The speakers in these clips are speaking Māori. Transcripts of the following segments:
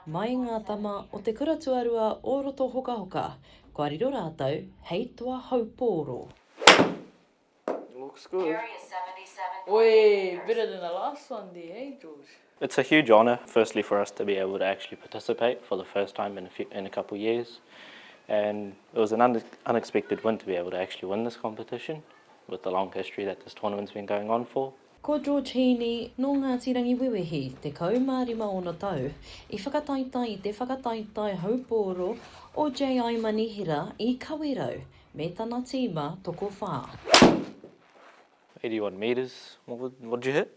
Mai ngā tama o te kura tuarua o Rotohokahoka, kua riro rātou hei toa haupōro. Looks good. Oi, better than the last one there, hey George. It's a huge honour firstly for us to be able to actually participate for the first time in a few, in a couple years and it was an un unexpected win to be able to actually win this competition with the long history that this tournament's been going on for. Ko George Heaney, nō Ngāti Rangiwewehi, 15 ōna tau, i whakataetae i te whakataetae haupōro o JI Manihera i Kawerau me tana tīma tokowhā. 81 metres, what did you hit?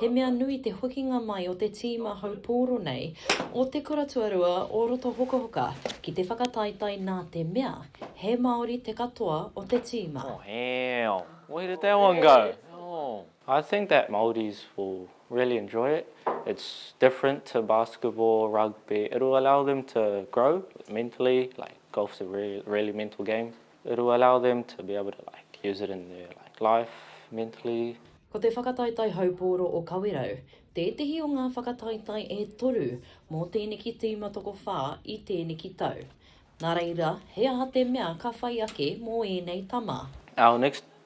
He mea nui te hokinga mai o te tīma haupōro nei o Te Kura Tuarua o Rotohokohoka ki te whakataetae nā te mea he Māori te katoa o te tīma. Mōhio! Where did that one go? Oh. I think that Māoris will really enjoy it, it's different to basketball, rugby, it'll allow them to grow mentally, like golf's a really mental game. It will allow them to be able to like use it in their like life, mentally. Ko te whakataetae haupōro o Kawerau tētehi o ngā whakataetae e toru mō tēneki tīma tokowhā i tēneki tau. Nā reira, he aha te mea ka whai ake mō ēnei tama? Our next